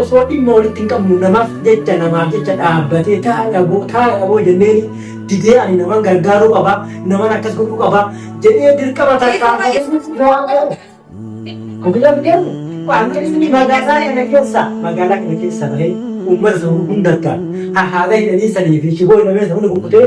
Osoo dhimma walitti hin qabnu namaf jecha namaaf jecha dhaabbatee ta'a dhaboo taa'e dhaboo jenneeni didee ani naman gargaaruu qaba naman akkas godhuu qaba jedhee dirqama tarkaanfatee Ofiidhaan deemu qaamni magaalaa kana keessa magaalaa kana keessa malee uummata sana hundarkaan haala hidhanii sanii fi shiboo hidhamee sana hunda kukkutee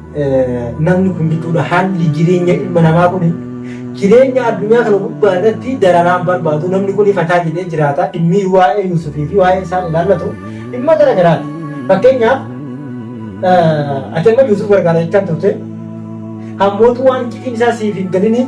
namni kun jechuudha haalli jireenya ilma namaa kun jireenya addunyaa kana gubbaa irratti dararaan barbaadu namni kun fataa jedhee jiraata dhimmi waa'ee Yuusufii fi waa'ee isaan ilaallatu dhimma gara garaati. Fakkeenyaaf ati amma Yuusuf gargaara jechaan turte hammootu waan iccitiin isaa siif hin galiniif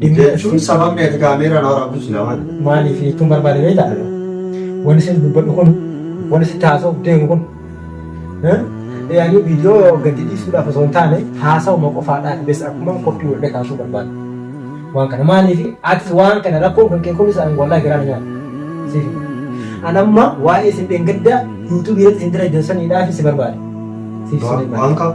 Jechuun sababni ati kaameeraa na waraabdu silaa maali? Maaliif jechuun barbaade beektaa? Wani isin dubbadhu kun, wani isin taasisuuf deemu kun. Yaani viidiyoo gadi dhiisuudhaaf osoo hin taane haasawuma qofaadhaaf bes akkuma qophii walda kaasuu barbaade. Waan kana maaliif atis waan kana rakkoon kan kee kunis ani wallahi garaa na nyaata. Siif. An amma waa'ee isin dheengaddaa yuutuubii irratti isin dalajan saniidhaaf si barbaade. Siif Waan- saniidhaaf. waan qaba.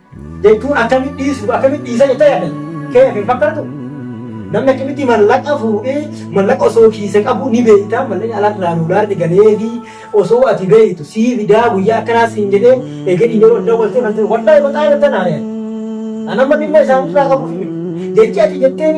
jechuun akkamitti dhiisu akkamitti dhiisa jettee yaaddan keef hin fakkaatu namni akkamitti mallaqa fuudhee mallaqa osoo kiise qabu ni beekta mallaqni alarraa doolaarri galee fi osoo ati beektu sii fidaa guyyaa akkanaa siin jedhee eeganii yeroo hin dawwaltee fayyadu wallahi baqaa irratti naaree anamma dhimma isaanirraa qabu jechi ati jetteen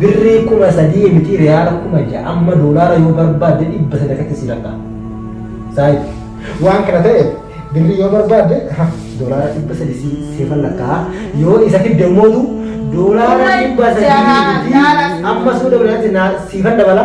Birrii kuma sadii mitii riyaala kuma ja'a amma doolaara yoo barbaadde dhibba sadii akkatti sii lakkaa. Saayid waan kana ta'eef birrii yoo barbaadde doolaara dhibba sadii sii siifan lakkaa yoo isa fidde immoo doolaara dhibba sadii mitii amma suuda biratti siifan dabala.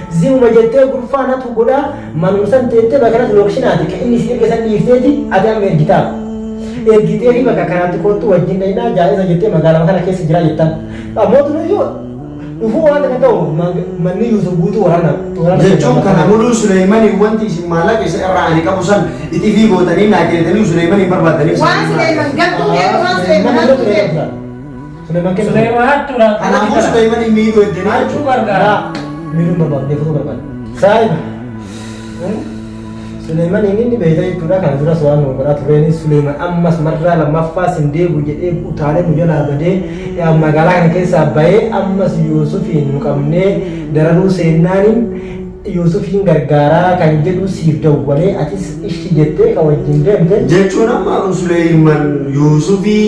Ziruma jettee gurfaa natu godhaa manum san teette bakka natu lokshinaati ka inni siif erge san dhiifteeti ati amma ergitaaf. Ergiteefi bakka kanaatti koottu wajjin dhaynaa jaa'iza jettee magaalama kana keessa jiraa jettaan. Ammotu nu yoo dhufuu waan takka ta'u manni Yuusuf guutuu waraana waraana Jechuun kana muluu Suleeymaniin wanti isin maallaqa isa irraa ani qabu san itifii gootanii naa kennitaniyu Suleeymaniin barbaaddanii Waan Suleeyman gattuu beeku waan Suleeyman hattuu beeku. Suleeman kenna. Suleeman hattuu laata? Kanaafuu Suleeman hin miidhuu eddanii Hattuu gargaara. Miidhuu hin barbaadu, deefuu barbaadu. Saayiba. Suleeman inni inni beeyta jechuudha kana duras waan nu godhaa tureen Suleeman ammas marraa lammaffaa sin deebi'u jedhee utaalee nu jalaa badee eh, magaalaa kana keessaa bahee ammas Yuusufiin nu qabnee dararuu seennaaniin Yuusufiin gargaaraa kan jedhu siif dawwalee atis ishii jettee kan wajjin deemte jechuun amma Suleeman Yuusufii